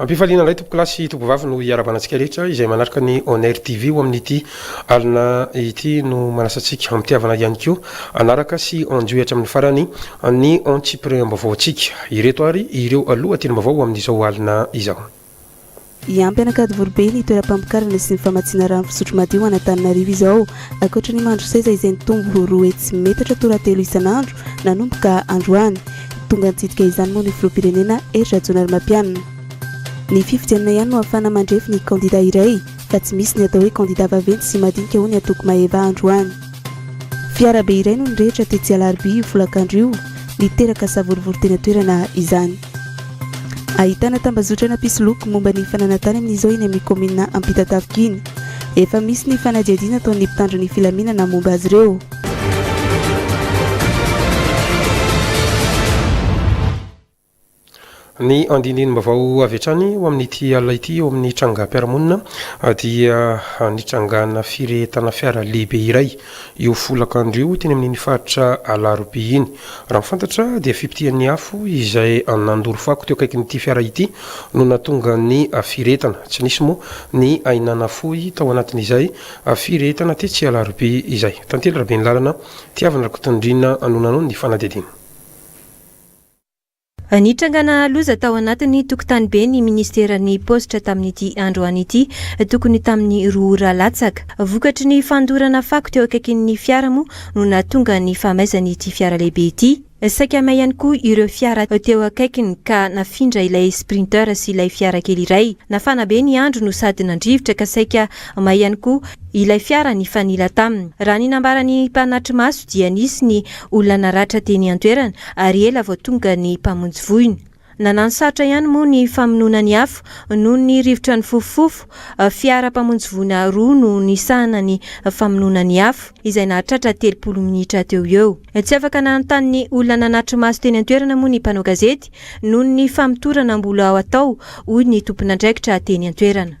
Ampifaliana indray tompokolahy sy tompovavy no hiarabana antsika rehetra izay manaraka ny Onair TV ho amin'ity alina ity no manasantsika amitiavana ihany koa anaraka sy anjohy hatramin'ny farany Amin'ny antsipiriam-baovaontsika, ireto ary ireo lohatenim-baovao amin'izao alina izao. Hiampy an'Ankadivoribe ny toeram-pamokarana sy ny famatsiana rano fisotro madio ho an'Antananarivo izao. Ankoatra ny mandry seza izay nitombo roa hetsy sy metatra toratelo isan'andro nanomboka androany. Tonga nitsidika izany moa ny filoham-pirenena Hery Rajaonarimampianina. Ny fifidianana ihany no ahafahana mandrefy ny kandida iray fa tsy misy ny atao hoe kandida vaventy sy madinika hoy ny antoko Maeva androany. Fiarabe iray no nirehitra tetsy Alarobia io folakandro io, niteraka savorovoro teny an-toerana izany. Ahitana tambazotrana mpisoloky momba ny fananantany amin'izao eny amin'ny kaominina Ampitatafika iny. Efa misy ny fanadihadiana ataon'ny mpitandro ny filaminana momba azy ireo. Ny andinindinim-baovao avy hatrany ho amin'ity alina ity eo amin'ny trangam-piarahamonina dia nitrangana firehetana fiara lehibe iray io folakandro io teny amin'iny faritra Alarobia iny. Raha ny fantatra dia fipitihan'ny afo izay nandoro fako teo akaikin'ity fiara ity no nahatonga ny firehetana. Tsy nisy moa ny aina nafoy tao anatin'izay firehetana tetsy Alarobia izay. Tantely Raben'ny lalana, Tiavina Rakotondriana no nanao ny fanadihadiana. Nitrangana loza tao anatin'ny tokontanibe ny minisiteran'ny paositra tamin'ity androany ity, tokony tamin'ny roa ora latsaka. Vokatry ny fandorana fako teo akaikin'ny fiara moa no nahatonga ny fahamaizan'ity fiara lehibe ity. Saika may ihany koa ireo fiara teo akaikiny ka nafindra ilay Sprinter sy ilay fiara kely iray. Nafana be ny andro no sady nandrivotra ka saika may ihany koa ilay fiara nifanila taminy. Raha ny nambaran'ny mpanatri-maso dia nisy ny Olona naratra teny an-toerana ary ela vao tonga ny mpamonjy voina. Nanano sarotra ihany moa ny famonoana ny afo noho ny rivotra nifofofofo. Fiara mpamonjy voina roa no nisahana ny famonoana ny afo, izay nahatratra telopolo minitra teo ho eo. Tsy afaka nanontany ny olona nanatri-maso teny an-toerana moa ny mpanao gazety noho ny famotorana mbola atao, hoy ny tomponandraikitra teny an-toerana.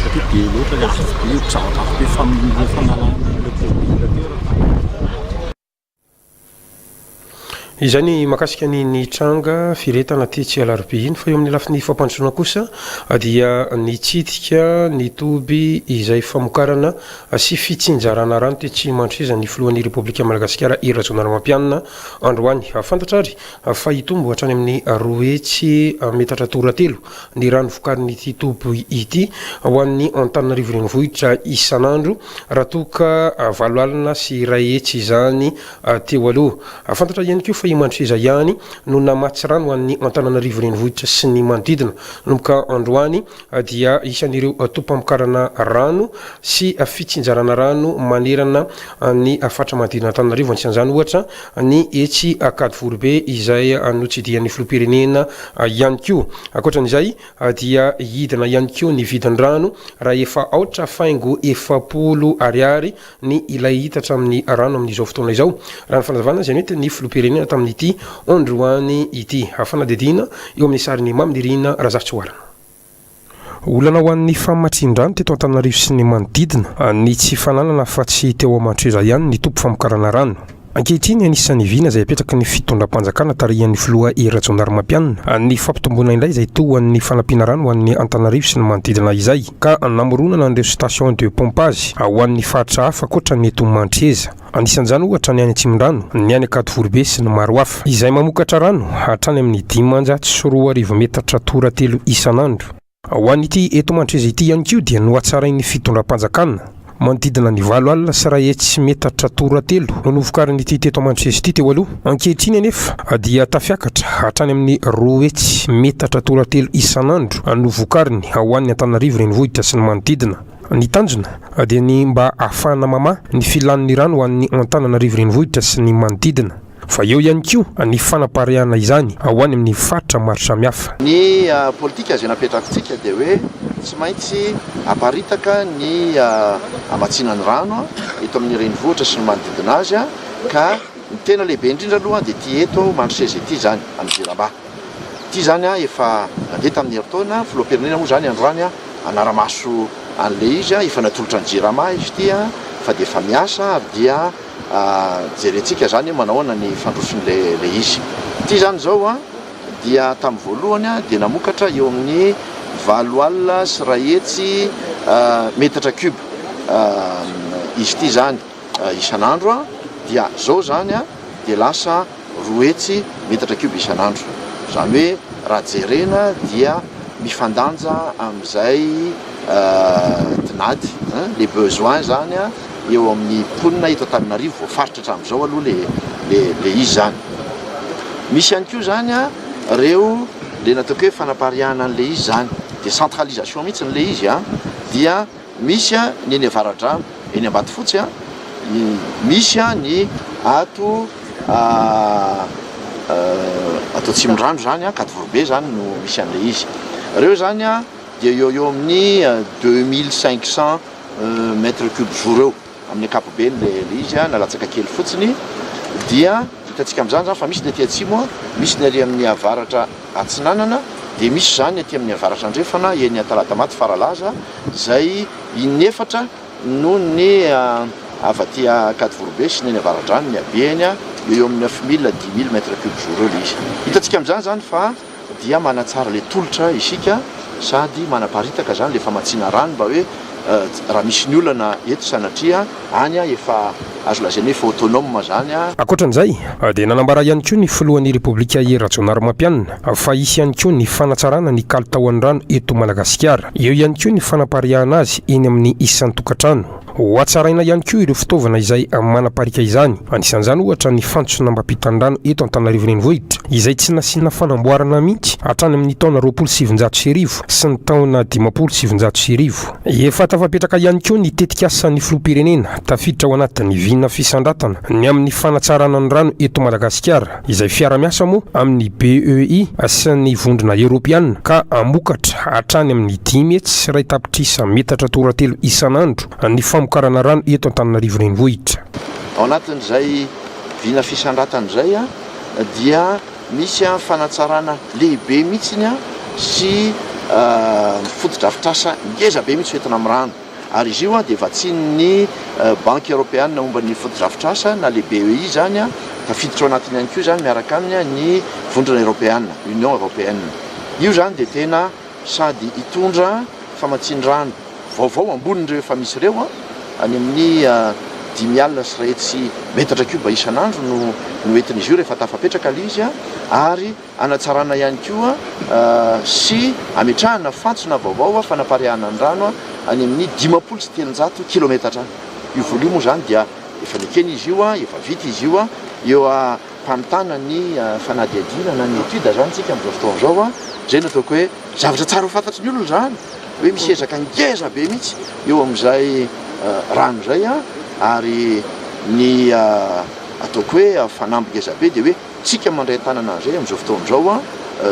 satria be loatra ilay vy be, zavatra avy teo famonoana fanalan'ilay polisy teo raha fantatra. Izay ny mahakasika ny nitranga firehetana tetsy Alarobia iny fa eo amin'ny lafiny fampandrosoana kosa dia nitsidika ny toby izay famokarana sy fitsinjarana rano tetsy Mandroseza ny filohan'ny Repoblika Malagasikara Hery Rajaonarimampianina androany. Fantatra ary fa hitombo hatrany amin'ny roa hetsy metatra toratelo ny rano vokarin'ity toby ity ho an'ny Antananarivo Renivohitra isan'andro raha toa ka valo alina sy iray hetsy izany teo aloha. Fantatra ihany koa fa i Mandroseza ihany no namatsy rano ho an'ny Antananarivo Renivohitra sy ny manodidina. Manomboka androany dia isan'ireo tobim-pamokarana rano sy fitsinjarana rano manerana ny faritra manodidina Antananarivo, anisan'izany ohatra ny etsy Ankadivoribe izay notsidihan'ny filoham-pirenena ihany koa. Ankoatra an'izay dia hidina ihany koa ny vidin-drano raha efa aotra faingo efapolo ariary ny ilay litatra amin'ny rano amin'izao fotoana izao, raha ny fanazavana izay nentin'ny filoham-pirenena tamin'ity androany ity. Fanadihadiana eo amin'ny sarin'i Mamy Nirina Razafitsihoarana. Olana ho an'ny famatsian-drano teto Antananarivo sy ny manodidina ny tsy fananana afa-tsy teo Amantsohiza ihany ny toby famokarana rano. Ankehitriny, anisan'ny vina izay apetraky ny fitondram-panjakana tarihan'ny filoha Hery Rajaonarimampianina ny fampitomboana indray izay toa ho an'ny fanampiana rano ho an'ny Antananarivo sy ny manodidina izay ka namoronana an'ireo station de pompage ho an'ny faritra hafa ankoatra ny eto Mantreza. Anisan'izany ohatra ny any Atsimondrano, ny any Ankadiforibe sy ny maro hafa, izay mamokatra rano hatrany amin'ny dimanjato sy roa arivo metatra toratelo isan'andro. Ho an'ity eto Mandreza ity ihany koa dia nohatsarain'ny fitondram-panjakana, manodidina ny valo alina sy iray hetsy metatra toratelo no novokarin'ity teto Mandreza ity teo aloha. Ankehitriny anefa dia tafiakatra hatrany amin'ny roa hetsy metatra toratelo isan'andro no vokariny ho an'ny Antananarivo Renivohitra sy ny manodidina. Ny tanjona dia ny mba hahafahana mamaha ny filan'ny rano ho an'ny Antananarivo Renivohitra sy ny manodidina, fa eo ihany koa ny fanapareahana izany ho any amin'ny faritra maro samihafa. Ny politika izay napetrakintsika dia hoe tsy maintsy aparitaka ny hamatsiana ny rano eto amin'ny renivohitra sy ny manodidina azy, ka ny tena lehibe indrindra aloha dia ity eto Mandroseza ity izany, any Jirama. Ity izany efa nandeha tamin'ny herintaona, filoham-pirenena moa izany androany hanara-maso an'ilay izy, efa natolotra ny jirama izy ity fa dia efa miasa ary dia jerentsika izany hoe manao ahoana ny fandrosoan'ilay izy. Ity izany izao dia tamin'ny voalohany dia namokatra eo amin'ny valo alina sy iray hetsy metatra cub izy ity izany isan'andro dia izao izany dia lasa roa hetsy metatra kibo isan'andro. Izany hoe raha jerena dia mifandanja amin'izay tinady, les besoins, izany eo amin'ny mponina eto Antananarivo, voafaritra hatramin'izao aloha ilay izy izany. Misy ihany koa izany ireo ilay nataoko hoe fanapariahana an'ilay izy izany, dia centralisation mihitsy ilay izy dia Misy ny eny Avaradrano, eny Ambatofotsy, misy ny ato ato Atsimondrano izany, Ankadivoribe izany no misy an'ilay izy. Ireo izany dia eo ho eo amin'ny deux mille cinq cents mètres cubes jour eo. Amin'ny ankapobeny le le izy na latsaka kely fotsiny dia hitantsika amin'izany izany fa misy ny aty atsimo, misy ny ary amin'ny avaratra atsinanana dia misy izany aty amin'ny avaratra andrefana eny Antaladamaty Faralaza izay in'efatra noho ny avy aty Ankadivorobe sy ny eny Avaradrano ny habeny eo eo amin'ny neuf mille dix mille mètre cube jour eo le izy. Hitantsika amin'izany izany fa. dia manatsara ilay tolotra isika sady manaparitaka izany ilay famatsiana rano mba hoe raha misy ny olana eto sanatria any efa azo lazaina hoe efa autonome izany. Ankoatra an'izay dia nanambara ihany koa ny filohan'ny Repoblika Hery Rajaonarimampianina fa hisy ihany koa ny fanatsarana ny kalitaon'ny rano eto Madagasikara, eo ihany koa ny fanapariahana azy eny amin'ny isan-tokantrano. Hohatsaraina ihany koa ireo fitaovana izay manapariaka izany. Anisan'izany ohatra ny fantsonambam-pitandrana eto Antananarivo Renivohitra izay tsy nasiana fanamboarana mihitsy hatrany amin'ny taona roapolo sy sivinjato sy arivo sy ny taona dimampolo sy sivinjato sy arivo. Efa tafapetraka ihany koa ny tetikasan'ny Filoham-pirenena tafiditra ao anatin'ny vina fisandratana ny amin'ny fanatsarana ny rano eto Madagasikara. izay fiara-miasa moa amin' ny BEI sy ny Vondrona Eorôpeana, ka hamokatra hatrany amin' ny dimy hetsy sy iray tapitrisa metatra toratelo isan' andro ny famokarana rano eto Antananarivo Renivohitra. Ao anatin' izay vina fisandratana izay dia misy fanatsarana lehibe mihitsy sy fotodrafitrasa ngeza be mihitsy ho entina amin'ny rano. Ary izy io dia vatsian'ny Banky Eoropeana momba ny Fotodrafitrasa na le BEI izany, tafiditra ao anatiny ihany koa izany miaraka aminy ny Vondrona Eoropeana, Union Européenne. Io izany dia tena sady hitondra famatsian-drano vaovao ambonin'ireo efa misy ireo, any amin'ny dimy alina sy iray hetsy metatra kioba isan'andro no entin'izy io rehefa tafapetraka ilay izy, ary. Hanatsarana ihany koa sy hametrahana fantsona vaovao fanapariahana ny rano any amin'ny dimampolo sy telonjato kilometatra any. Io voly io moa izany dia efa nekena izy io, efa vita izy io. Eo am-pamitana ny fanadihadiana na ny étude izany isika amin'izao fotoana izao. Izay no ataoko hoe zavatra tsara ho fantatry ny olona izany hoe misy ezaka ngeza be mihitsy eo amin'izay rano izay ary ny ataoko hoe fanamby ngeza be dia hoe Tsika mandray tanana indray amin'izao fotoana izao an!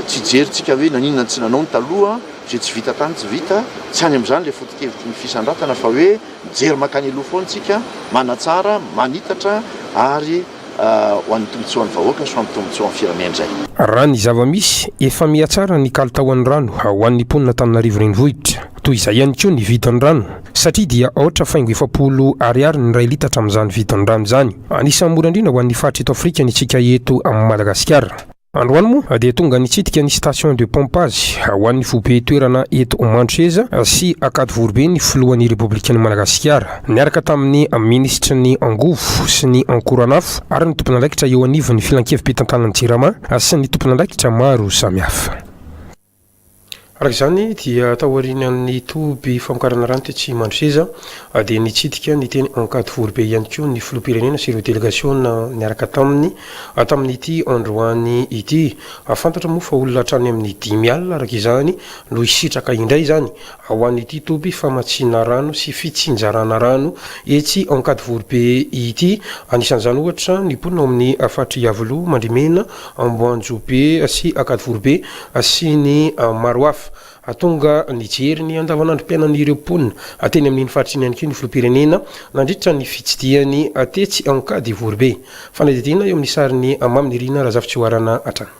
Tsy hijery tsika hoe naninona no tsy nanao ny taloha an! Izay tsy vita tany tsy vita, tsy any amin'izany ilay foto-kevitry ny fisandratana fa hoe mijery mankany aloha foana tsika, manatsara, manitatra ary ho an'ny tombotsoan'ny vahoaka sy ho an'ny tombotsoan'ny firenena izay. Raha ny zava-misy, efa mihatsara ny kalitaon'ny rano ho an'ny mponina Antananarivo Renivohitra. Toy izay ihany koa ny vidin'ny rano. satria dia aotra faingo efapolo Ariary ny iray litatra amin'izany vidin'ny rano izany. Anisan'ny mora indrindra ho an'ny faritra eto Afrika ny antsika eto Madagasikara. Androany moa dia tonga nitsidika ny station de pompage ho an'ny foibe toerana eto Mandroseza sy Ankadivoribe ny filohan'ny Repoblikan'i Madagasikara niaraka tamin'ny minisitry ny angovo sy ny ankoron'afo ary ny tompon'andraikitra eo anivon'ny filankevi-pitantanan'ny jirama sy ny tompon'andraikitra maro samihafa. Araka izany dia taorian' ny toby famokarana rano tetsy Mandroseza dia nitsidika ny teny Ankadivoribe ihany koa ny filoham-pirenena sy ireo delegasiona niaraka taminy tamin' ity androany ity. Fantatra moa fa olona hatrany amin' ny dimy alina araka izany no hisitraka indray izany ho an' ity toby famatsiana rano sy fitsinjarana rano etsy Ankadivoribe ity. Anisan' izany ohatra ny mponina ao amin' ny faritr' i Iavoloha, Mandrimena, Amboanjobe sy Ankadivorobe sy ny maro hafa. Hahatonga nijery ny andavanandrom-piainan'ireo mponina teny amin'iny faritra iny ihany koa ny filoham-pirenena nandritra ny fitsidihany tetsy Ankadivorobe. Fanadihadiana eo amin'ny sarin'i Mamy Nirina Razafitsihoarana hatrany.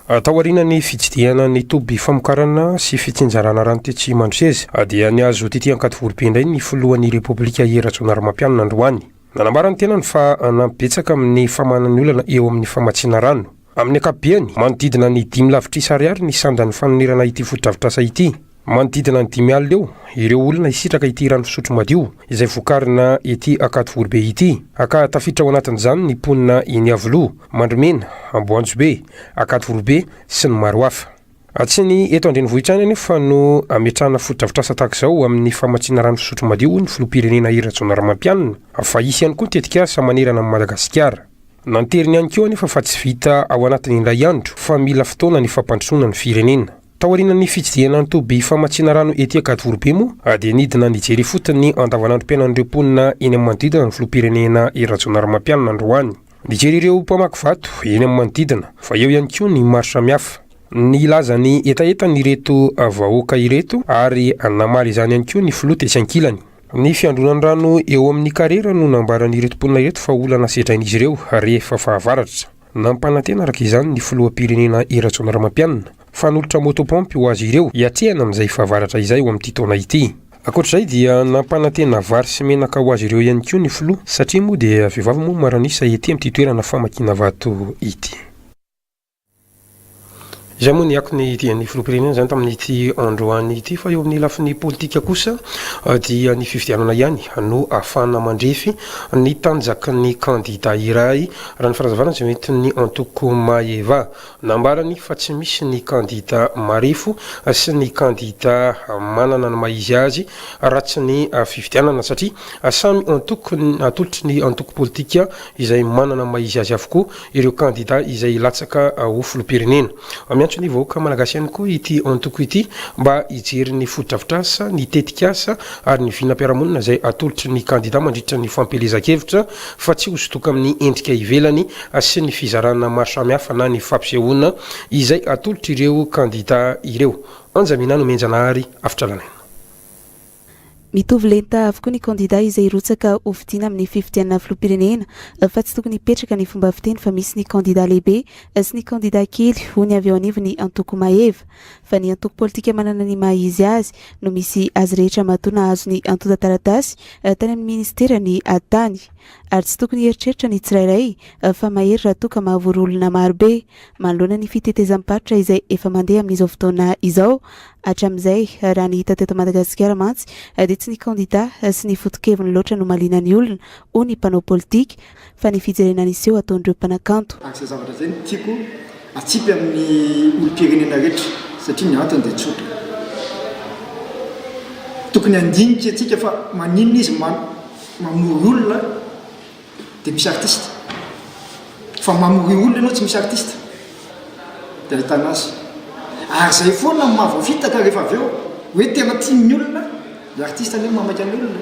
Taorian'ny fitsidihana ny toby famokarana sy fitsinjarana rano tetsy Mandroseza dia nihazo tety Ankadivorobe indray ny filohan'ny Repoblika I Rajaonarimampianina androany. Nanambara ny tenany fa hanampy betsaka amin'ny famahanan'ny olana eo amin'ny famatsiana rano. Amin'ny ankapobeny, manodidina ny dimy lavitrisa ariary ny sandan'ny fanonerana ity fotodrafitrasa ity. Manodidina ny dimy alina eo ireo olona hisitraka ity rano fisotro madio izay vokarina ety Ankadivoribe ity. Aka tafiditra ao anatin'izany ny mponina eny Iavoloha, Mandromena, Amboanjobe, Ankadivoribe sy ny maro hafa. Tsy ny eto an-drenivohitra ihany anefa no ametrahana fotodrafitrasa tahaka izao ho amin'ny famatsiana rano fisotro madio, hoy ny filoham-pirenena Hery Rajaonarimampianina, fa hisy ihany koa ny tetikasa manerana an'i Madagasikara. Nanteriny ihany koa anefa fa tsy vita ao anatin'ny indray andro fa mila fotoana ny fampandrosoana ny firenena. Taorian'ny fitsidihana ny toby famatsiana rano ety Ankadivorobe moa dia nidina nijery ifotony ny andavanandrom-piainan'ireo mponina eny amin'ny manodidina ny filoham-pirenena Hery Rajaonarimampianina androany. Mijery ireo mpamaky vato eny amin'ny manodidina, fa eo ihany koa ny maro samihafa. Nilaza ny hetahetany ireto vahoaka ireto ary namaly izany ihany koa ny filoha tetsy ankilany. Ny fiandronan'ny rano eo amin'ny karera no nambaran'ireto mponina ireto fa olana sedrain'izy ireo rehefa fahavaratra. Nampanantena araka izany ny filoham-pirenena Rajaonarimampianina. Fanolotra moto pompe ho azy ireo hiatrehana amin'izay fahavaratra izay ho amin'ity taona ity. Ankoatra izay dia nampanantena vary sy menaka ho azy ireo ihany koa ny filoha satria moa dia vehivavy moa maro an'isa ety amin'ity toerana famakiana vato ity. Izay moa ny akony dian'ny filoham-pirenena izany tamin'ity androany ity fa eo amin'ny lafiny politika kosa dia ny fifidianana ihany no ahafahana mandrefy ny tanjaky ny kandida iray raha ny fanazavana izay entin'ny antoko Maeva Nambarany fa tsy misy ny kandida marefo sy ny kandida manana ny maha izy azy raha tsy ny fifidianana satria samy antoko atolotry ny antoko politika izay manana ny maha izy azy avokoa ireo kandida izay hilatsaka ho filoham-pirenena. Miantso ny vahoaka malagasy ihany koa ity antoko ity mba hijery ny fotodrafitrasa, ny tetikasa ary ny vinam-piarahamonina izay atolotry ny kandida mandritra ny fampielezan-kevitra fa tsy hosodoka amin'ny endrika ivelany sy ny fizarana maro samihafa na ny fampisehoana izay atolotr'ireo kandidà ireo. Anja Minah no mihenjana ary avotra lalaina. Mitovy lenta avokoa ny kandidà izay hirotsaka ho fidiana amin'ny fifidianana filoham-pirenena fa tsy tokony hipetraka ny fomba fiteny fa misy ny kandidà lehibe sy ny kandidà kely, hoy ny avy eo anivon'ny antoko Maeva. fa ny antoko politika manana ny maha izy azy no misy azy rehetra matoa nahazo ny antontan-taratasy tany amin'ny minisitera ny tany. Ary tsy tokony hieritreritra ny tsirairay fa mahery raha toa ka mahavory olona maro be. Manoloana ny fitetezam-paritra izay efa mandeha amin'izao fotoana izao hatramin'izay, raha ny hita teto Madagasikara mantsy dia tsy ny kandidà sy ny foto-keviny loatra no mahaliana ny olona, hoy ny mpanao politika. fa ny fijerena ny seho ataon'ireo mpanakanto. Araka izay zavatra izay no tiako hatsipy amin'ny olom-pirenena rehetra satria ny antony dia tsotra. Tokony handinika antsika fa maninona izy mamory olona dia misy artista. Fa mamory olona ianao tsy misy artista dia ahitana azy. Ary izay foana no mahavoafitaka rehefa avy eo hoe tena tian'ny olona ilay artista nefa mamaika ny olona.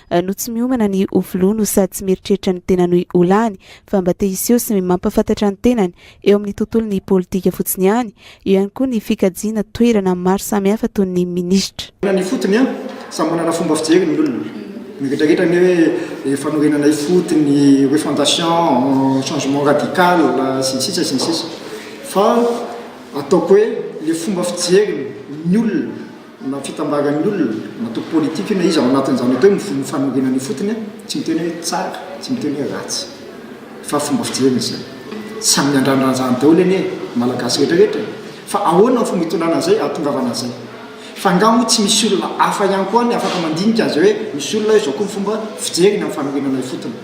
no tsy miomana ny ho filoha no sady tsy mieritreritra ny tena noy ho lany fa mba te hiseho sy mampafantatra ny tenany eo amin'ny tontolon'ny politika fotsiny ihany, eo ihany koa ny fikajiana toerana maro samihafa toy ny minisitra. Tena ny ifotony an! Samy manana fomba fijery ny olona. Ny rehetra rehetra anie hoe fanorenana ifotony, refondation, changement radical sy ny sisa sy ny sisa. Fa ataoko hoe le fomba fijeriny ny olona. na fitambaran'ny olona, na atao politique io na iza ao anatin'izany atao hoe mivoy ny fanorenana ifotony a, tsy miteny hoe tsara, tsy miteny hoe ratsy fa fomba fijeriny izay. Samy miandrandra an'izany daholo anie ny Malagasy rehetra rehetra e! Fa ahoana ny fomba hitondràna an'izay hahatongavana an'izay? Fa angaha moa tsy misy olona hafa ihany koa ny afaka mandinika an'izay hoe misy olona izao koa ny fomba fijeriny amin'ny fanorenana ifotony?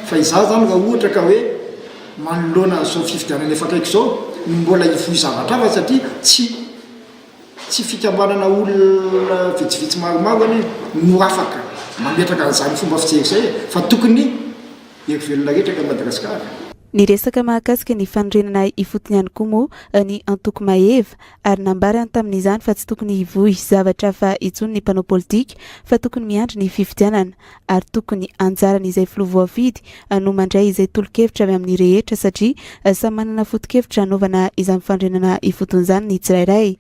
Fa izaho izany raha ohatra ka hoe manoloana an'izao fifidianana efa akaiky izao no mbola hivoy zavatra hafa satria tsy Tsy fikambanana olona vitsivitsy maromaro anie no afaka mametraka an'izany fomba fijery izay e! Fa tokony hery velona rehetra eto Madagasikara. Niresaka mahakasika ny fanorenana ifotony ihany koa moa ny antoko Maeva ary nambarany tamin'izany fa tsy tokony hivohy zavatra hafa intsony ny mpanao politika fa tokony miandry ny fifidianana. ary tokony anjaran' izay filoha voafidy no mandray izay tolo-kevitra avy amin'ny rehetra satria samy manana foto-kevitra hanaovana izany fandrenana ifotony izany ny tsirairay.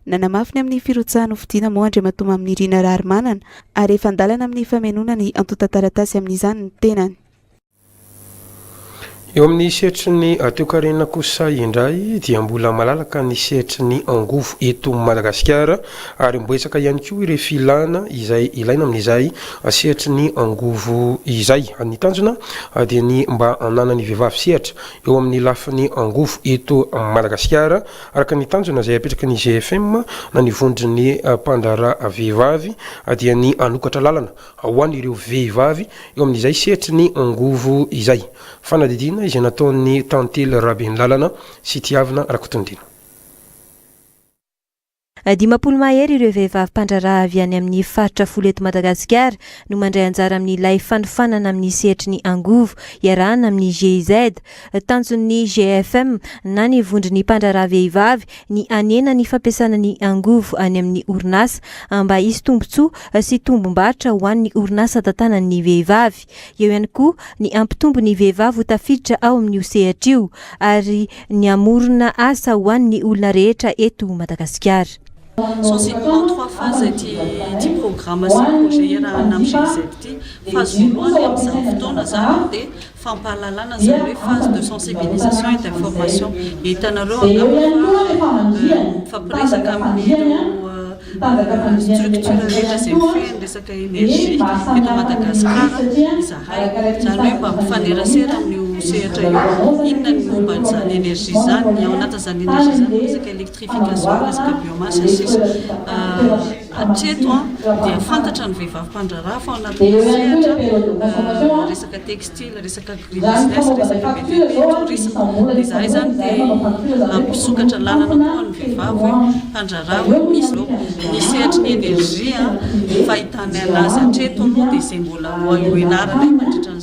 Nanamafy ny amin'ny firotsahan' hofidiana moa Andriamatoa Maminirina Raharimanana ary efa an-dalana amin'ny famenoana ny antontan-taratasy amin'izany ny tenany. Eo amin'ny sehatry ny toekarena kosa indray dia mbola malalaka ny sehatry ny angovo eto Madagasikara ary mibetsaka ihany koa ireo filana izay ilaina amin'izay sehatry ny angovo izay. Ny tanjona dia ny mba hananan'ny vehivavy sehatra eo amin'ny lafiny angovo eto Madagasikara araka ny tanjona izay apetraky ny GFM na ny vondron'ny mpandraharaha vehivavy dia ny hanokatra lalana ho an' ireo vehivavy eo amin' izay sehatry ny angovo izay. Fanadihadiana izay nataon' ny Tantely Rabenlalana sy Tiavina Rakotondina. Dimampolo mahery ireo vehivavy mpandraharaha avy any amin' ny faritra folo eto Madagasikara no mandray anjara amin' ilay fanofanana amin' ny sehatry ny angovo iarahana amin' ny GIZ, Tanjon'ny GFM na ny vondron'ny mpandraharaha vehivavy ny hanena ny fampiasana ny angovo any amin'ny orinasa mba hisy tombontsoa sy tombom-barotra ho an'ny orinasa tantanan'ny vehivavy. Eo ihany koa ny hampitombo ny vehivavy ho tafiditra ao amin'io sehatra io ary ny hamorona asa ho an'ny olona rehetra eto Madagasikara. Sous une grande fois phase ity ity programa sy projet iarahana amin'ny GIZ ity. Phase voalohany amin'izany fotoana izany dia fampahalalana izany hoe phase de sensibilisation et d'information. Hitanareo angamba fa mifampiresaka amin'ireo structure rehetra izay mifehy ny resaka energie eto Madagasikara izahay. Izany hoe mba mifanerasera amin'io sehatra io. Inona ny momba an'izany energie izany, ny ao anatin'izany energie izany ny resaka elektrika. fiangazoana sy biomasa sisa hatreto dia fantatra ny vehivavy mpandraharaha fa ao anatin'ny sehatra resaka textile, resaka agribusiness, resaka BTP, tourisme dia izahay izany dia mpisokatra lalana koa ho an'ny vehivavy hoe mpandraharaha hoe misy izao ny sehatry ny energie fahitanay anazy hatreto aloha dia izay mbola ho eo ianarana eo mandritra ny.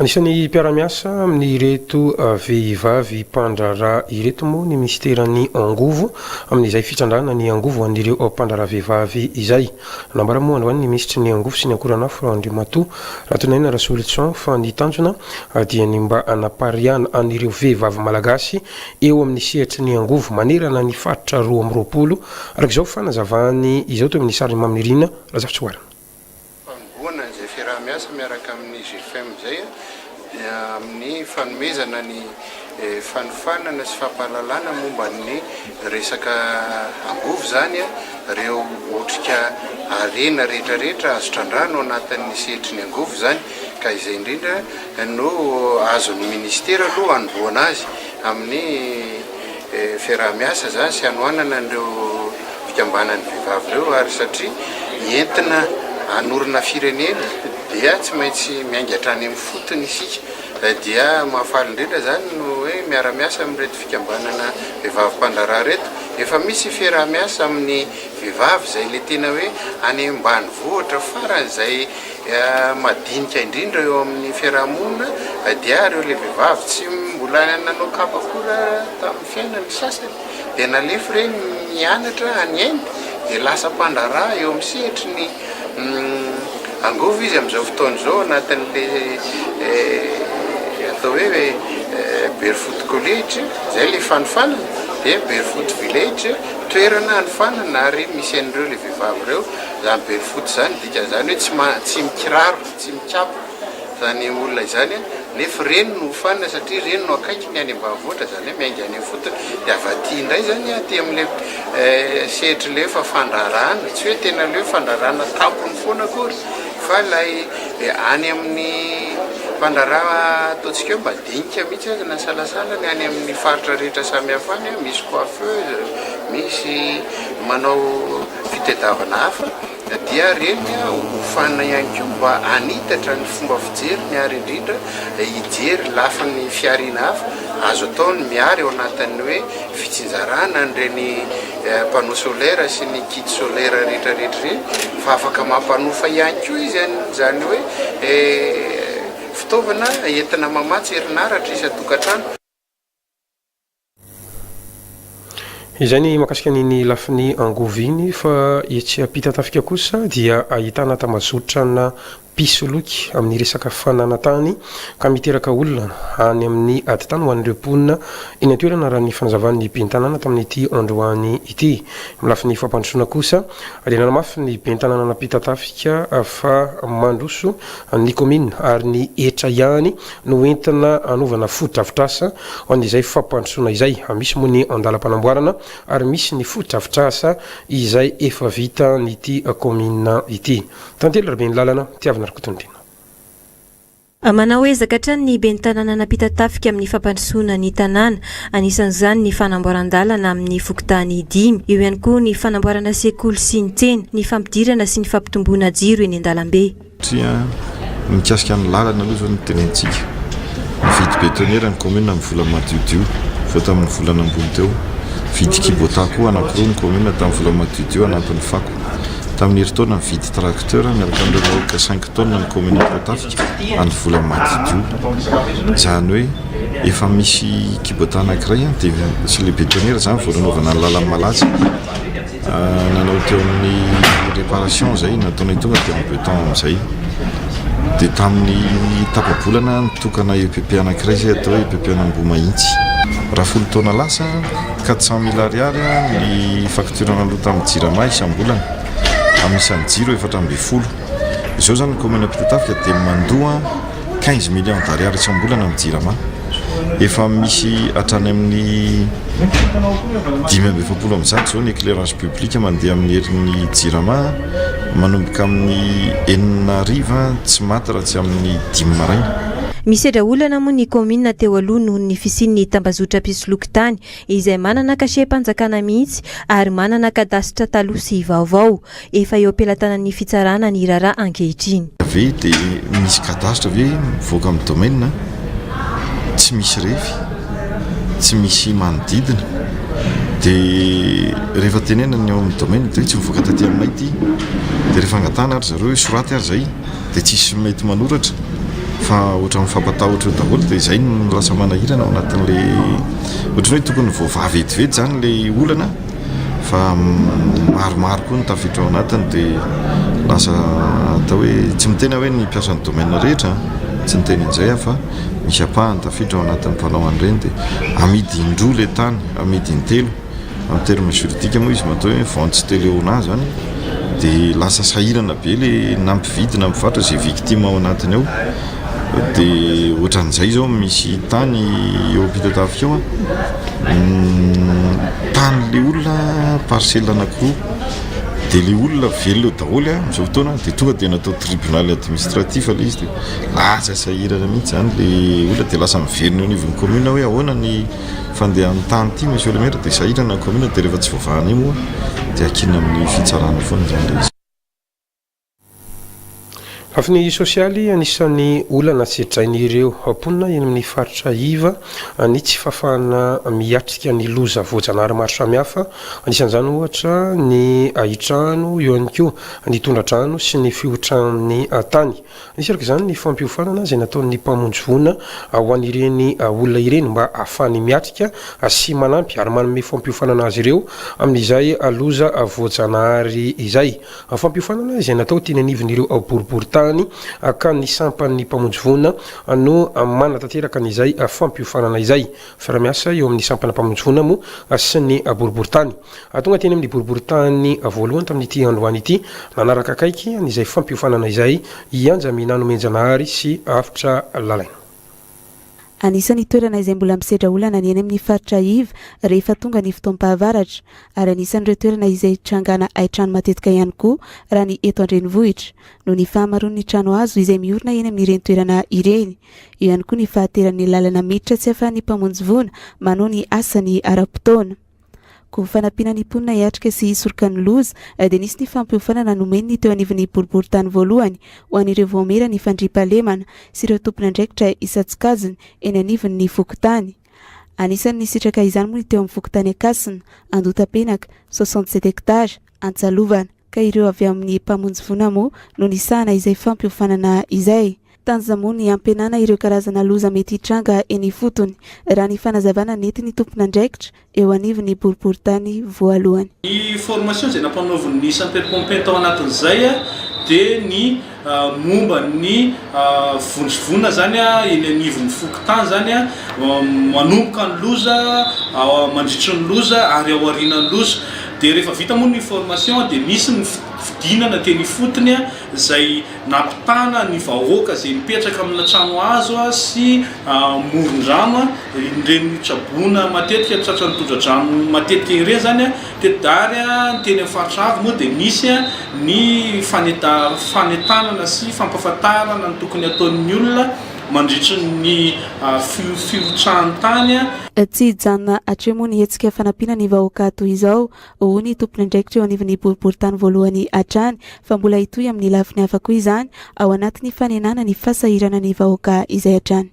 Anisan'ny mpiara-miasa amin'ireto vehivavy mpandraharaha ireto moa ny minisiteran'ny Angovo amin'izay fitrandrahana ny angovo ho an'ireo mpandraharaha vehivavy izay. Nambara moa androany ny minisitry ny Angovo sy ny Ankoranafo Andriamatoa Ratoninaina Rasolison fa ny tanjona dia ny mba hanapariahana an'ireo vehivavy malagasy eo amin'ny sehatry ny angovo manerana ny faritra roa amby roapolo, araka izao fanazavany izao teo amin'ny sarin'i Maminirina Razafitsihoarana. fanombohana izay fiaraha-miasa miaraka amin'ny GFEM izay dia amin'ny fanomezana ny fanofanana sy fampahalalana momba ny resaka angovo izany ireo otrika harena rehetrarehetra azo trandrahana ao anatin'ny sehatry ny angovo izany ka izay indrindra no azon'ny ministera aloha hanombohana azy amin'ny fiaraha-miasa izany sy hanohanana an'ireo fikambanan'ny vehivavy ireo ary satria entina hanorina firenena dia tsy maintsy miainga hatrany amin'ny fotony isika dia mahafaly indrindra izany no hoe miara-miasa amin'ireto fikambanana vehivavy mpandraharaha ireto efa misy fiaraha-miasa amin'ny vehivavy izay ilay tena hoe any ambanivohitra faran'izay madinika indrindra eo amin'ny fiarahamonina dia ireo lehibevavy tsy mbola nanao kapa akory raha tamin'ny fiainany, ny sasany dia nalefy ireny nianatra any Inde dia lasa mpandraharaha eo amin'ny sehatry ny angovo izy amin'izao fotoana izao anatin'ilay atao hoe Barefoot College izay ilay fanofanana dia Barefoot Village toerana hanofanana ary misy an'ireo lehibevavy ireo izany Barefoot izany Izany hoe tsy ma tsy mikiraro, tsy mikapa izany olona izany nefa ireny no hofanina satria ireny no akaiky ny any ambanivohitra izany hoe miainga any ifotony dia avy aty indray izany aty amin'ilay sehatrin'ilay hoe fa fandraharahana tsy hoe tena ilay hoe fandraharahana tampony foana akory fa ilay any amin'ny mpandraharaha ataontsika hoe madinika mihitsy aza na salasala ny any amin'ny faritra rehetra samihafa any misy coiffeuse, misy manao fitadiavana hafa. Na dia reny hofanina ihany koa mba hanitatra ny fomba fijeriny ary indrindra hijery lafiny fihariana hafa azo atao ny miary ao anatin'ny hoe fitsinjarana an'ireny panneau solaire sy ny kit solaire rehetrarehetra ireny fa afaka mampanofa ihany koa izy an'izany hoe fitaovana entina mamatsy herinaratra isan-tokantrano. Izay ny makasika an'iny lafiny angovo iny fa etsy ampitan-tafika kosa dia ahitana tambazotrana mpisoloky amin'ny resaka fananantany ka miteraka olana any amin'ny aditany ho an'ireo mponina eny an-toerana raha ny fanazavan'ny ben'ny tanàna tamin'ity androany ity. Amin'ny lafiny fampandrosoana kosa dia nanamafy ny ben'ny tanàna nampitan-tafika fa mandroso ny kaominina ary ny hetra ihany no entina hanaovana fotodrafitrasa ho an'izay fampandrosoana izay. Misy moa ny andalam-panamboarana ary misy ny fotodrafitrasa izay efa vita an'ity kaominina ity. Tantely Rabeny Lalana, Tiavina Rakotondriana. Manao ezaka hatrany ny ben'ny tanàna nampita tafika amin'ny fampandrosoana ny tanàna. Anisan'izany ny fanamboaran-dalana amin'ny fokontany dimy. Eo ihany koa ny fanamboarana sekoly sy ny tsena, ny fampidirana sy ny fampitomboana jiro eny an-dalambe. Satria mikasika ny lalana aloha izao no tenentsika. Nividy betonnière ny commune amin'ny vola madiodio vao tamin'ny volana ambony teo. Nividy kubota koa anankiroa ny commune tamin'ny vola madiodio anatin'ny fako. Tamin'ny herintaona nividy tracteur miaraka amin'ireo vahoaka cinq tonnes ny commune Ampotafika amin'ny vola madiodio. Izany hoe efa misy kubota anankiray dia sy ilay betonnière izany vao nanaovana ny lalana malaza. Nanao teo amin'ny réparation izay nataonay tonga dia en beton amin'izay. Dia tamin'ny tapa-bolana nitokana EPP anankiray izay atao hoe EPP an'Ambohimahitsy. Raha folo taona lasa, quatre cent mille ariary ny facture naloa tamin'ny Jirama isam-bolana, amin'ny isan'ny jiro efatra ambin'ny folo. Izao izany ny commune Ampitatafika dia mandoa. quinze millions d'ariary isam-bolana ny jirama, efa misy hatrany amin'ny dimy amby efapolo amin'ny zato izao ny éclairage public mandeha amin'ny herin'ny jirama, manomboka amin'ny enina hariva tsy maty raha tsy amin'ny dimy maraina. Misedra olana moa ny kaominina teo aloha noho ny fisian'ny tambazotra mpisoloky tany izay manana cachet-panjakana mihitsy ary manana kadasitra taloha sy vaovao. Efa eo am-pelatanan'ny fitsarana ny raharaha ankehitriny. Ve dia misy cadastre ve mivoaka amin'ny domaine? Tsy misy refy, tsy misy manodidina. Dia rehefa tenenana ny ao amin'ny domaine dia hoe tsy mivoaka taty aminay ity. Dia rehefa angatahana àry zareo hoe soraty ary izay dia tsisy mety manoratra fa ohatran'ny fampatahotra eo daholo. Dia izay no lasa manahirana ao anatin'ilay, ohatran'ny hoe tokony voavaha vetivety izany ilay olana. fa maromaro koa ny tafiditra ao anatiny dia lasa atao hoe tsy miteny aho hoe ny mpiasan'ny domaine rehetra tsy niteny an'izay aho fa misy apahany tafiditra ao anatin'ny mpanao an'ireny dia amidy indroa ilay tany amidy intelo amin'ny terme juridique moa izy matoa hoe vente stéléonat zany dia lasa sahirana be ilay na mpividy na mpivarotra izay victime ao anatiny ao dia ohatran'izay zao misy tany eo ampitatafika eo tany le olona parcelle anakiroa dia le olona velona eo daholo a am'izao fotoana dia tonga dia natao tribunal administratif le izy dia lasa sahirana mihitsy zany le olona dia lasa miverina eo anivon'ny commune hoe ahoana ny fandehan'ny tany ity monsieur le maire dia sahirana ny commune dia rehefa tsy voavaha an'io moa dia ankina amin'ny fitsarana foana zany le izy Lafiny sosialy, anisan'ny olana sedrain'ireo mponina eny amin'ny faritra iva ny tsy fahafahana miatrika ny loza voajanahary maro samihafa, anisan'izany ohatra ny ahitrano, eo ihany koa ny tondra-drano sy ny fihotran'ny tany. Nisy araka izany ny fampiofanana izay nataon'ny mpamonjy voina ho an'ireny olona ireny mba hahafahany miatrika sy manampy ary manome fampiofanana azy ireo amin'izay loza voajanahary izay. Fampiofanana izay natao teny anivon'ireo boriborintany ka ny sampan'ny Mpamonjy voina no manatanteraka an'izay fampiofanana izay. Fiara-miasa eo amin'ny sampana Mpamonjy voina moa sy ny boriborintany. Tonga teny amin'ny boriborintany voalohany tamin'ity androany ity nanaraka akaiky an'izay fampiofanana izay i Anjamina Nomenjanahary sy Avotra Lalaina. Anisan'ny toerana izay mbola misedra olana ny eny amin'ny faritra iv rehefa tonga ny fotoam-pahavaratra, ary anisan'ireo toerana izay hitrangana haitrano matetika ihany koa raha ny eto an-drenivohitra, noho ny fahamaroan'ny trano hazo izay miorina eny amin'ireny toerana ireny. Eo ihany koa ny fahateran'ny lalana miditra tsy ahafahan'ny mpamonjy voina manoa ny asany ara-potoana. Koa fanampiana ny mponina hiatrika sy hisoroka ny loza, dia nisy ny fampiofanana nomeny ny teo anivon'ny boriborintany voalohany ho an'ireo vaomiera ny fandriampahalemana sy ireo tompon'andraikitra isan-tsokajiny eny anivon'ny fokontany. Anisan'ny nisitraka izany moa ny teo amin'ny fokontany Ankasina, Andohatapenaka, 67 hectares, Antsalovana. ka ireo avy amin'ny Mpamonjy voina moa no nisahana izay fampiofanana izay. Tanjona moa ny hampihenana ireo karazana loza mety hitranga eny ifotony, raha ny fanazavana nentin'ny tompon'andraikitra eo anivon'ny boriborintany voalohany. Ny formation izay nampanaovin'ny Sapeurs-pompiers tao anatin'izay dia ny momba ny vondrovonona izany eny anivon'ny fokontany izany manomboka ny loza, mandritry ny loza ary ao aorianan'ny loza. Dia rehefa vita moa ny formation dia misy ny fidinana teny ifotony izay nampitana ny vahoaka izay mipetraka amina trano hazo sy amoron-drano ireny traboina matetika tratran'ny tondra-drano matetika ireny izany. Kedary, ny teny amin'ny faritra avo moa dia misy ny fanentanana sy fampahafantarana ny tokony hataon'ny olona mandritry ny fiotsahan-tany. Tsy hijanona hatreho moa ny hetsika fanampiana ny vahoaka toy izao, hoy ny tompon'andraikitra eo anivon'ny boriborintany voalohany hatrany, fa mbola hitohy amin'ny lafiny hafa koa izany, ao anatin'ny fanenana ny fahasahiranan'ny vahoaka izay hatrany.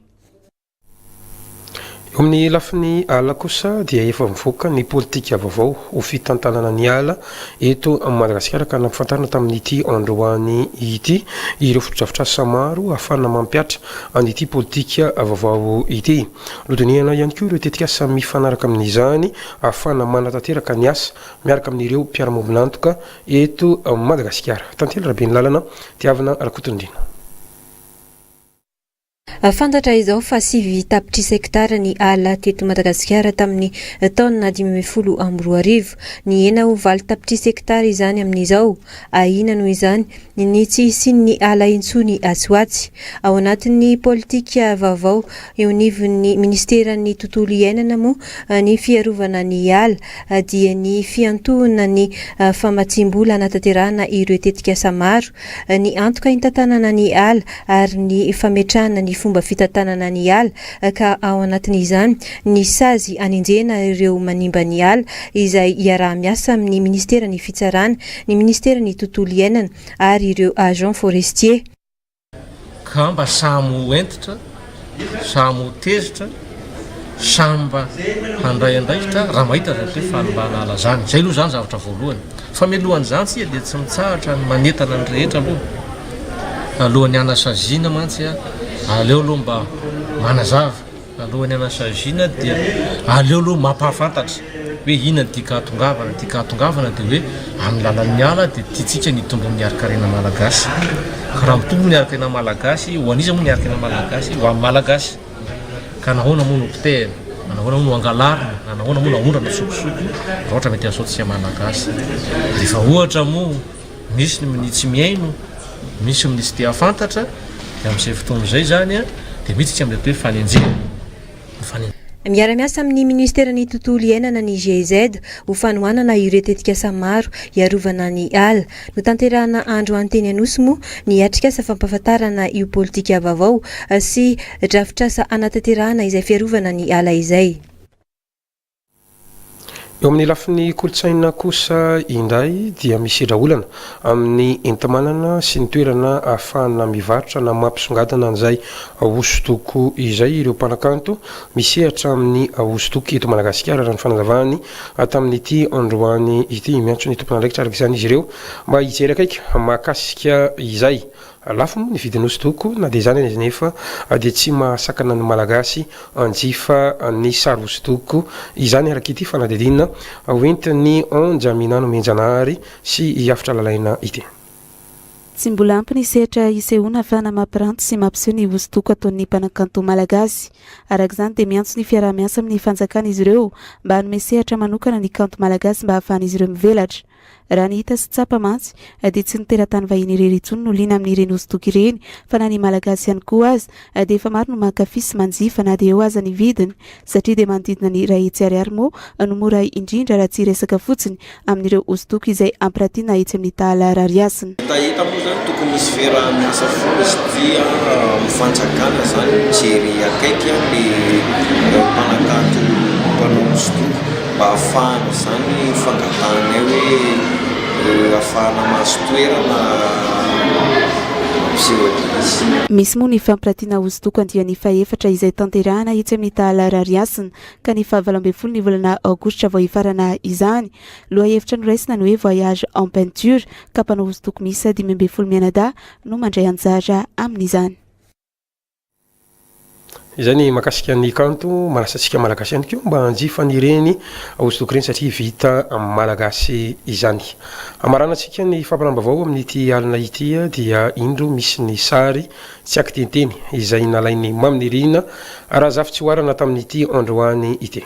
Eo amin'ny lafiny ala kosa dia efa mivoaka ny politika vaovao ho fitantanana ny ala eto Madagasikara ka nampifantarina tamin'ity androany ity ireo fotodrafitrasa maro ahafana mampihatra an'ity politika vaovao ity. Nodinihana ihany koa ireo tetikasa mifanaraka amin'izany ahafana manatanteraka ny asa miaraka amin'ireo mpiara-miombon'antoka eto Madagasikara. Tantely Rabenylalana, Tiavina Rakotondriana. Fantatra izao fa sivy tapitrisa hektara ny ala teto Madagasikara tamin'ny taona dimy ambin'ny folo amby roa arivo. Nihena ho valo tapitrisa hektara izany amin'izao. Ahiana noho izany ny tsy hisian'ny ala intsony atsy ho atsy. Ao anatin'ny politika vaovao eo anivon'ny minisiteran'ny Tontolo iainana moa ny fiarovana ny ala dia ny fiantohana ny famatsiam-bola hanatanterahana ireo tetikasa maro ny antoka intantanana ny ala ary ny fametrahana ny fomba fitantanana ny ala ka ao anatin'izany ny sazy anenjehana ireo manimba ny ala izay iaraha-miasa amin'ny Ministeran'ny Fitsarana, ny Ministeran'ny Tontolo Iainana ary ireo Agents Forestiers. ka mba samy ho hentitra, samy ho tezitra, samy mba handray andraikitra raha mahita zavatra hoe faly mba hanala izany. Izay aloha izany zavatra voalohany. Fa mialohan' izany tsika dia tsy mitsahatra ny manentana ny rehetra aloha. Alohan'ny hanasaziana mantsy, aleo aloha mba manazava. Alohan'ny hanao saziana dia aleo aloha mampahafantatra hoe inona ny tiaka hahatongavana, ny tiaka hahatongavana dia hoe amin'ny lalan'ny ala dia tiantsika ny hitombo amin'ny harin-karena malagasy, ka raha mitombo ny harin-karena malagasy, ho an'iza moa ny harin-karena malagasy? Ho an'ny malagasy, ka nahoana moa no potehina? Na nahoana moa no angalarina? Na nahoana moa no aondrana sokosoko raha ohatra mety hahasoa antsika malagasy? Rehefa ohatra moa. Misy ny minia tsy mihaino, misy minia tsy te hahafantatra, dia amin'izay fotoana izay izany dia miditra amin'ilay atao hoe fanenjehana. Miara-miasa amin'ny Ministeran'ny Tontolo Iainana ny GIZ ho fanohanana ireo tetikasa maro hiarovana ny ala. Notanterahina andro any teny Anosy moa ny atrikasa fampahafantarana io politika vaovao sy drafitrasa hanatanterahana izay fiarovana ny ala izay. Eo amin'ny lafiny kolontsaina kosa indray dia misedra olana amin'ny enti-manana sy ny toerana ahafahana mivarotra na mampisongadina an'izay hosodoko izay ireo mpanakanto misehatra amin'ny hosodoko eto Madagasikara, raha ny fanazavany tamin'ity androany ity. Miantso ny tompon'andraikitra araka izany izy ireo mba hijery akaiky mahakasika izay Lafo moa ny vidin'ny hosodoko, na dia izany aza anefa dia tsy mahasakana ny Malagasy hanjifa ny sary hosodoko izany araka ity fanadihadiana hoentin'ny Onja Minano Mihenjanahary sy i Hafitra Lalaina ity. Tsy mbola ampy ny sehatra isehoana fa na mampiranty sy mampiseho ny hosodoko ataon'ny mpanakanto malagasy. Araka izany dia miantso ny fiaraha-miasa amin'ny fanjakana izy ireo mba hanome sehatra manokana ny kanto malagasy mba hahafahan'izy ireo mivelatra. Raha ny hita sy tsapa mantsy dia tsy ny teratany vahiny irery intsony no liana amin'ireny hosodoko ireny fa na ny Malagasy ihany koa aza dia efa maro no mankafy sy manjifa na dia eo aza ny vidiny satria dia manodidina ny iray hetsy ariary moa no mora indrindra raha tsy hiresaka fotsiny amin'ireo hosodoko izay ampiratiana etsy amin'ny tahala rariasina. Hitahita moa izany tokony hisy fiaraha-miasa foana satria amin'ny fanjakana izany mijery akaiky ny mpanakanto mpanao hosodoko. mba hahafahana izany fangatahanay hoe hahafahana mahazo toerana mampiseho adiresy. Misy moa ny fampiratiana hosodoko andiany fahefatra izay tanterahana etsy amin'ny Tahala Rarihasina ka ny fahavalo ambin'ny folo ny volana aogositra vao hifarana izany. Lohahevitra noraisina ny hoe Voyage en peinture ka mpanao hosodoko miisa dimy ambin'ny folo mianadahy no mandray anjara amin'izany. Izay ny mahakasika ny kanto manasa antsika malagasy ihany koa mba hanjifa an'ireny hosodoko ireny satria vita amin'ny malagasy izany. Hamaranantsika ny fampiram-baovao amin'ity alina ity dia indro misy ny sary tsy ankiteniteny izay nalain'i Mamy Nirina Razafitsihoarana tamin'ity androany ity.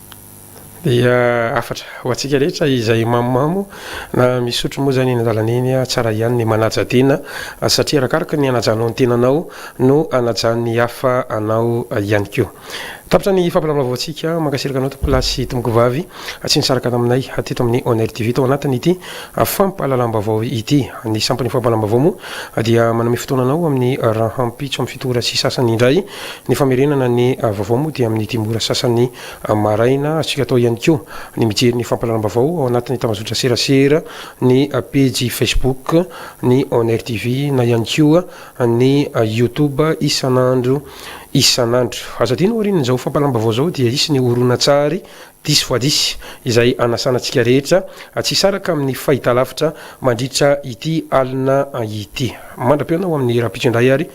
Dia hafatra ho antsika rehetra izay mamomamo na misotro moa izany eny an-dalana eny, tsara ihany ny manaja tena satria arakaraka ny anajanao ny tenanao no anajan'ny hafa anao ihany koa. Tapitra ny fampilamina-vaovaontsika. Mankasitraka anao tompolah sy tompokovavy tsy nisaraka taminay teto amin'ny Oner TV tao anatin'ity fampahalalam-baovao ity. Ny sampan'io fampahalalam-baovao moa dia manome fotoana anao amin'ny rahampitso amin'ny fito ora sy sasany indray. Ny famerenana ny vaovao moa dia amin'ny dimy ora sasany maraina. Azontsika atao ihany koa ny mijery ny fampahalalam-baovao ao anatin'ny tambazotra-serasera, ny pejy Facebook ny Onair TV na ihany koa ny Youtube isan'andro isan'andro. Aza adino aorian'izao fampahalalam-baovao izao dia hisy ny horonantsary diso voa diso izay hanasana antsika rehetra tsy hisaraka amin'ny fahitalavitra mandritra ity alina ity. Mandra-peo anao amin'ny rahampitso indray ary.